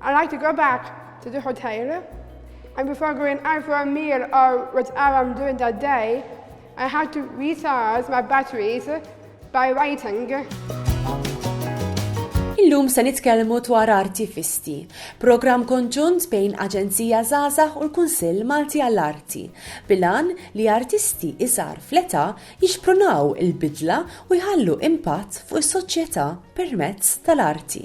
I'd like to go back to the hotel, and before going out for a meal or whatever I'm doing that day, I had to recharge my batteries by writing. Illum se nitkellmu dwar Arti Fisti, programm konġunt bejn Aġenzija Zazax u l-Kunsill Malti għall-Arti, bilan li artisti iżgħar fl-età jixprunaw il-bidla u jħallu impatt fuq is-soċjetà permezz tal-arti.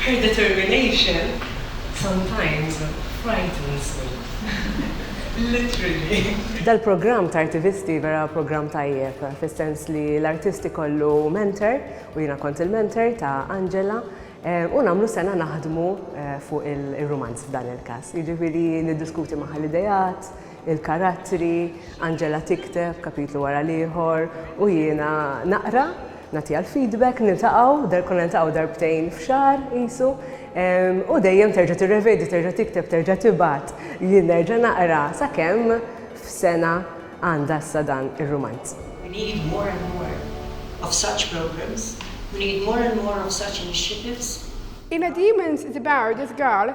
Her determination sometimes frightens me. Literally. Dal-programm ta' artivisti vera programm tajjeb fis-sens li l-artist ikollu mentor u jiena kont il-mentor ta' Angela u nagħmlu sena naħdmu fuq ir-rumanz f'dan il-każ. Jiġifieri niddiskuti magħha l-ideat, il-karattri, Angela tikteb kapitlu wara l-ieħor u jiena naqra, nagħtiha l-feedback, niltaqgħu, konna niltaqgħu darbtejn f'xahar qisu, u dejjem terġa' tirrevedi, terġa' tikteb, terġa' tibgħat, jien nerġa' naqra, sakemm f'sena għandha issa dan ir-rumanz. We need more and more of such programmes, we need more and more of such initiatives. In A Demon's Debut, This Girl,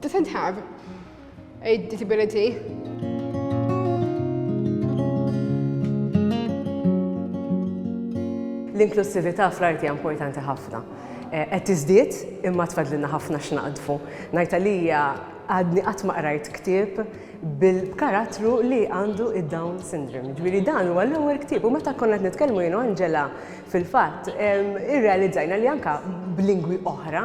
Doesn't have a disability. L-inklussività fl-arti hija importanti ħafna. Eh, qed tiżdied imma tfadlilna ħafna x'naqdfu. Ngħid għalija għadni qatt ma qrajt ktieb bil-karattru li għandu id-Down syndrome. Ġifieri dan huwa l-ewwel ktieb u meta konna qed nitkellmu jien Angela fil-fatt irrealizzajna li anka b'lingwi oħra